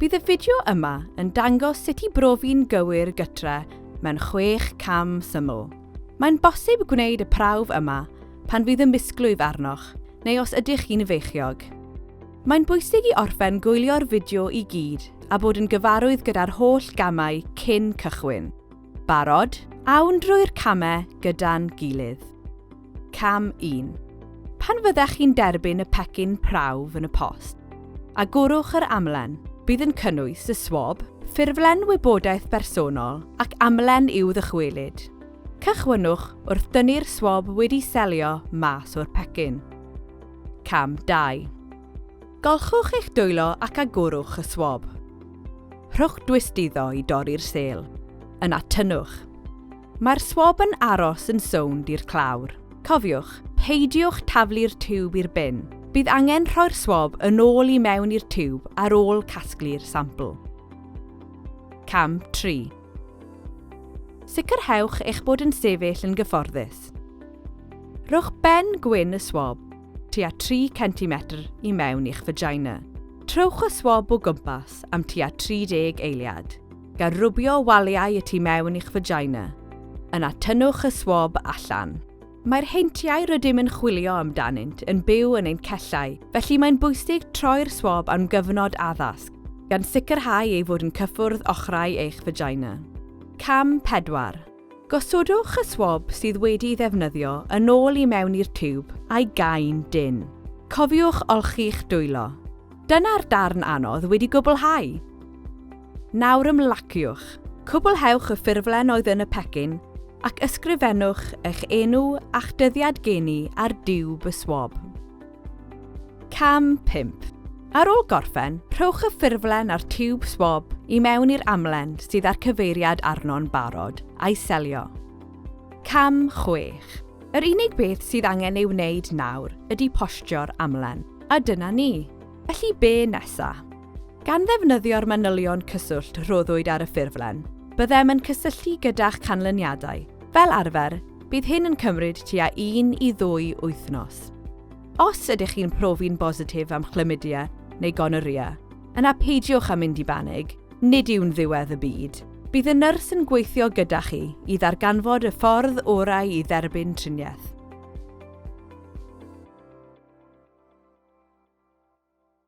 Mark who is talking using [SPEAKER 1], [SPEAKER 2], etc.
[SPEAKER 1] Bydd y fideo yma yn dangos sut i brofi'n gywir gytre mewn chwech cam syml. Mae'n bosib gwneud y prawf yma pan fydd y misglwyf arnoch neu os ydych chi'n feichiog. Mae'n bwysig i orffen gwylio'r fideo i gyd a bod yn gyfarwydd gyda'r holl gamau cyn cychwyn. Barod? Awn drwy'r camau gyda'n gilydd. Cam 1. Pan fyddech chi'n derbyn y pecyn prawf yn y post, agorwch yr amlen. Bydd yn cynnwys y swab, ffurflen wybodaeth bersonol ac amlen i'w ddychwelyd. Cychwynnwch wrth dynnu'r swab wedi selio mas o'r pecyn. Cam 2. Golchwch eich dwylo ac agorwch y swab. Rhowch dwysd iddo i dorri'r sêl. Yna tynnwch. Mae'r swab yn aros yn sownd i'r clawr. Cofiwch, peidiwch taflu'r tiwb i'r bin. Bydd angen rhoi'r swab yn ôl i mewn i'r tiwb ar ôl casglu'r sampl. Cam 3. Sicrhewch eich bod yn sefyll yn gyfforddus. Rhowch ben gwyn y swab tua 3 centimetr i mewn i'ch fagina. Trowch y swab o gwmpas am tua 30 eiliad. gan rwbio waliau y tu mewn i'ch fagina. Yna tynnwch y swab allan. Mae'r heintiau rydym yn chwilio amdanynt yn byw yn ein cellau, felly mae'n bwysig troi'r swab am gyfnod addasg, gan sicrhau ei fod yn cyffwrdd ochrau eich fagina. Cam 4. Gosodwch y swab sydd wedi'i ddefnyddio yn ôl i mewn i'r tiwb a'i gau'n dynn. Cofiwch olchi'ch dwylo. Dyna'r darn anodd wedi gwblhau! Nawr ymlaciwch. Cwblhewch y ffurflen oedd yn y pecyn ac ysgrifennwch eich enw a'ch dyddiad geni ar diwb y swab. Cam 5. Ar ôl gorffen, rhowch y ffurflen a'r tiwb swab i mewn i'r amlen sydd â'r cyfeiriad arno'n barod, a'i selio. Cam 6. Yr unig beth sydd angen ei wneud nawr ydy postio'r amlen, a dyna ni! Felly be nesa? Gan ddefnyddio'r manylion cyswllt rhoddwyd ar y ffurflen, byddem yn cysylltu gyda'ch canlyniadau. Fel arfer, bydd hyn yn cymryd tua un i ddwy wythnos. Os ydych chi'n profi'n bositif am chlamydia neu gonorrhea, yna peidiwch â mynd i banig, nid yw'n ddiwedd y byd. Bydd y nyrs yn gweithio gyda chi i ddarganfod y ffordd orau i dderbyn triniaeth.